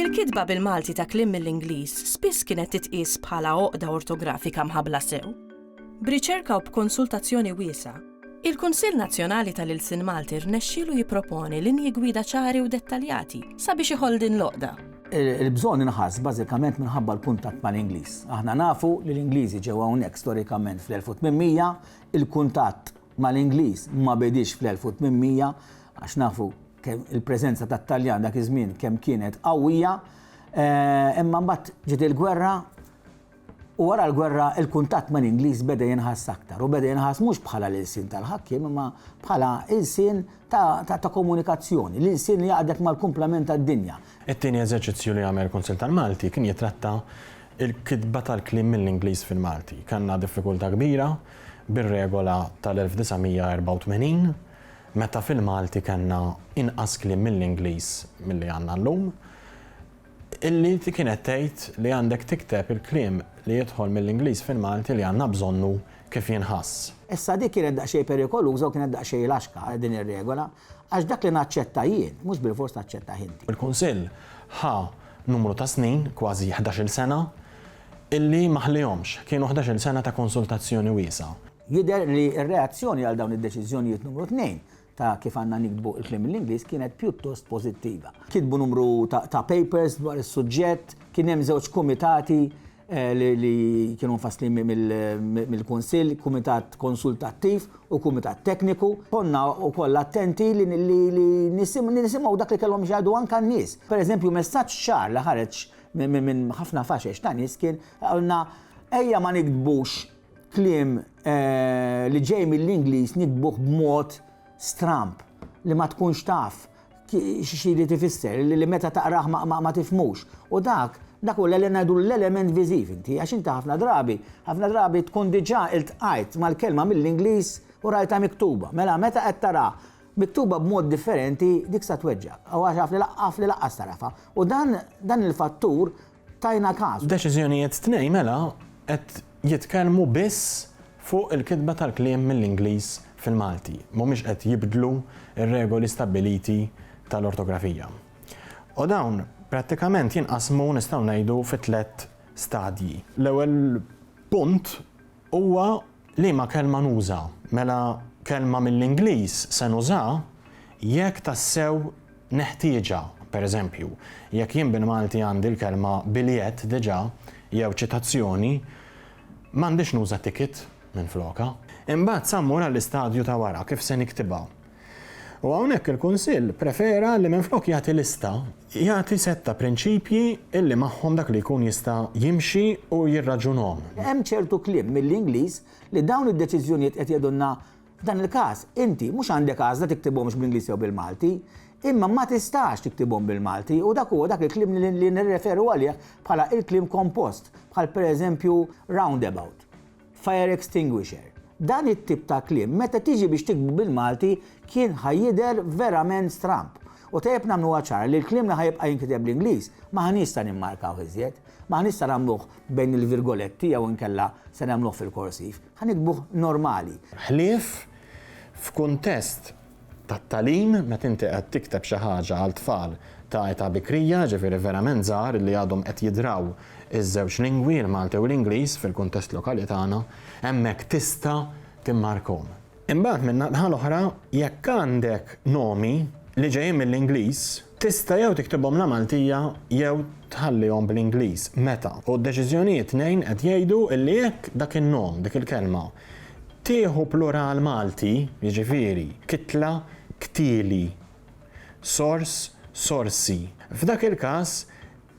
Il-kitba bil-Malti ta' kliem mill-Ingliż spiss kienet titqies bħala għoqda ortografika mħabbla sew. B'riċerka u b'konsultazzjoni wiesgħa, il-Kunsill Nazzjonali tal-Ilsien Malti rnexxielu jipproponi linji gwida ċari u dettaljati sabiex iħoll din l-għoqda. Il-bżonn inħass bażikament minħabba l-kuntatt mal-Ingliż. Aħna nafu li l-Ingliżi ġew hawnhekk storikament fl-1800, il-kuntatt mal-Ingliż ma bediex fl-1800, għax nafu kemm il-preżenza tat-Taljan dak iż-żmien kemm kienet qawwija, imma mbagħad ġiet il-gwerra, U wara l-gwerra, il-kuntatt mal-Ingliż beda jinħass aktar, u beda jinħass mhux bħala l-ilsien tal-ħakkiem imma bħala ilsien ta' komunikazzjoni, l-ilsien li jgħaqqdek mal-kumplament tad-dinja. It-tieni eżerċizzju li għamel il-Kunsill tal-Malti kien jitratta l-kitba tal-kliem mill-Ingliż fil-Malti. Kellna diffikultà kbira bir-regola tal-1984, meta fil-Malti kellna inqas kliem mill-Ingliż milli għandna llum. Illi inti kienet tgħid li għandek tikteb il-kliem li jidħol mill-Ingliż fil-Malti li għandna bżonnu kif jinħass. Issa dik kienet daqsxejn perikoluża u kienet daqsxejn laxka, din ir-regola, għax dak li naċċetta jien, mhux bilfors taċċettah inti. Il-Kunsill ħa numru ta' snin, kważi ħdax-il sena, illi ma ħliehomx. Kienu ħdax-il sena ta' konsultazzjoni wiesgħa. Jidher li r-reazzjoni għal dawn id-deċiżjonijiet numru tnejn ta' kif għandna niktbu l-kliem mill-Ingliż kienet pjuttost pożittiva. Kitbu numru ta' papers dwar is-suġġett, kien hemm żewġ kumitati li kienu mfasslin mill-Kunsill, kumitat konsultattiv u kumitat tekniku. Konna wkoll attenti li nisimgħu dak li kellhom x'jgħidu anke n-nies. Pereżempju, messaġġ ċar li ħareġ minn ħafna faxex ta' nies kien qalna ejja ma niktbux Kliem li ġej mill-Ingliż niktbuh b'mod stramb li ma tkunx taf x'irid ifisser, li meta taqrah ma tifhmux. U dak, dak hu li ngħidulu l-element viżiv inti, għax inti ħafna drabi, ħafna drabi tkun diġà iltqajt mal-kelma mill-Ingliż u rajtha miktuba. Mela meta qed tara miktuba b'mod differenti dik sa tweġġgħek. Għax af li lanqas tarafha. U dan, dan il-fattur tajna każ. Deċiżjonijiet tnej mela qed jitkellmu biss fuq il-kitba tal-kliem mill-Ingliż fil-Malti, mhumiex qed jibdlu r-regoli stabbiliti tal-ortografija. U dawn prattikament jinqasmu nistgħu ngħidu fi tliet stadji. L-ewwel punt huwa Liema kelma nuża? Mela kelma mill-Ingliż se nuża jekk tassew neħtieġha. Per eżempju, jekk jien bil-Malti għandi l-kelma biljett diġà jew ċitazzjoni, m'għandix nuża ticket minflokha. Imbagħad sa mmur għall-istadju ta' wara, kif se niktibha? U hawnhekk il-Kunsill prefera li minflok jagħti lista, jagħti sett ta' prinċipji illi magħhom dak li jkun jista' jimxi u jirraġunhom. Hemm ċertu kliem mill-Ingliż li dawn id-deċiżjonijiet qed jgħidulna f'dan il-każ, inti mhux għandek għażla tiktibhomx bl-Ingliż jew bil-Malti, imma ma tistax tiktibhom bil-Malti u dak huwa dak il-kliem li nirreferu għalih bħala il-kliem kompost, bħal pereżempju roundabout. fire extinguisher. Dan it-tip ta' kliem meta tiġi biex tiktbu bil-Malti kien ħa jidher verament stramb. U tajjeb nagħmluha ċara li l-kliem li ħa jibqa' jinkiteb bl-Ingliż m'aħniex sa nimmarkawh iżjed. M'aħniex sa nagħmluh bejn il-virgoletti jew inkella se nagħmluh fil-korsiv. Ħa niktbuh normali. Ħlief f'kuntest tat-tagħlim, meta inti qed tikteb xi ħaġa għal tfal ta' età bikrija, jiġifieri verament żgħar illi għadhom qed jidraw iż-żewġ lingwi, il-Malti u l-Ingliż, fil-kuntest lokali tagħna, hemmhekk tista' timmarkhom. Imbagħad min-naħa l-oħra, jekk għandek nomi li ġejjin mill-Ingliż, Tista' jew tiktibhom la Maltija jew tħallihom bl-Ingliż, meta, u d-deċiżjonijiet tnejn qed jgħidu li jekk dak in-nom, dik il-kelma, tieħu plural Malti, jiġifieri, kitla, ktili, sors, sorsi, f'dak il-każ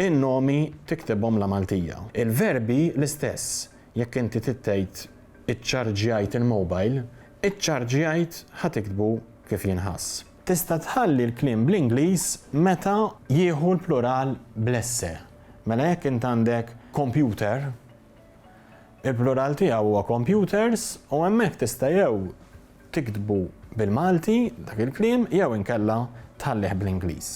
in-nomi tiktibhom la Maltija. Il-verbi l-istess, jekk inti trid tgħid iċċarġjajt il-mobile, iċċarġjajt ħa tiktbu kif jinħass. Tista' tħalli l-kliem bl-Ingliż meta jieħu l-plural bl-esse. Mela jekk int għandek computer, il-plural tiegħu huwa computers u hemmhekk tista' jew tiktbu bil-Malti dak il-kliem jew inkella tħallih bl-Ingliż.